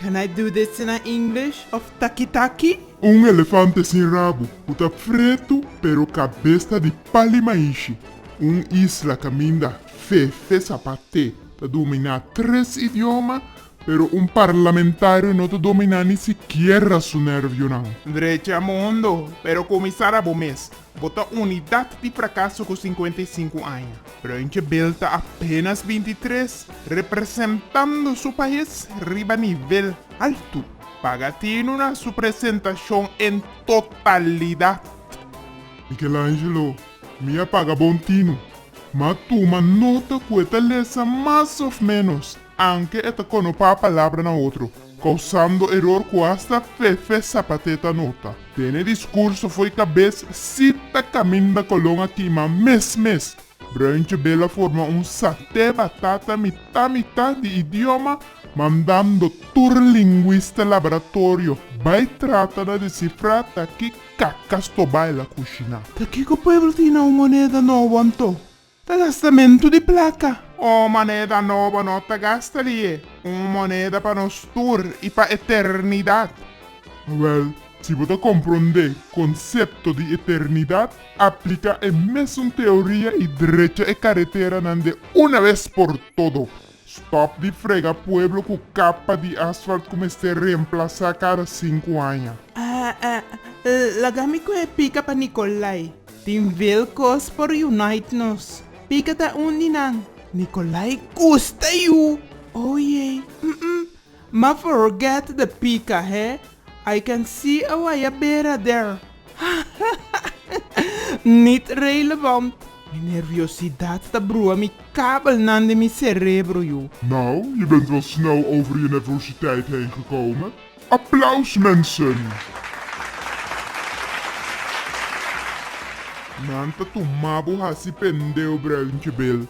Can I do this na English of Takitaki? Un elefante sin rabo cu ta fretu pero cabes ta di pali maishi. Un isla caminda Fefe Zapate ta dominá tres idioma pero un parlamentario no ta dominá ni sikiera su nervionan. Drecha mundo pero cumisara bo mes. Bo ta unidat di prakaso ku sinkuenta i sinku aña. Bruintje Bill ta apenas binti i tres, representando su pais riba nivel altu. Paga Tino na su presentashon en totalidat. Michelangelo, Mi a paga bon Tino. M'a tuma nota ku e ta lesa mas òf ménos. Anke e ta konopá palabra na otro, kousando eror ku asta Fefe Zapate ta nota. Tene diskurso fo'i kabes sí ta kaminda kolon aki, ma mes mes, Bruintje Bela forma un satè batata mitá mitá di idioma mandando tur lingwista laboratorio bai trata na desifrá ta ki kakas tobá el a kushiná. Ta kiko pueblo tin na un moneda nobo anto? Ta gastamentu di plaka. Un moneda nobo no ta gasta di e. Un moneda pa nos tur i pa eternidat. Wèl, si bo ta komprondé konsepto di eternidat, apliká e mesun teoria i drecha e kareteranan de una bes por todo. Stop di frega pueblo ku kapa di asfalt ku mester reemplasá kada sinku aña. Laga mi ku e pika pa Nikolai. Tin vel kos pa reunite nos. Pika ta un di nan. Nikolai gusta yu! Oye! Ma forget the pica he I can see a waya bera der hahaha Nit relevant Mi nerviosidad ta brua mi kabel nan den mi cerebro yu. Nou, je bent wel snel over je nervositeit heen gekomen. Applaus mensen! Nan ta tuma bo hasi pendeu breu nchebel.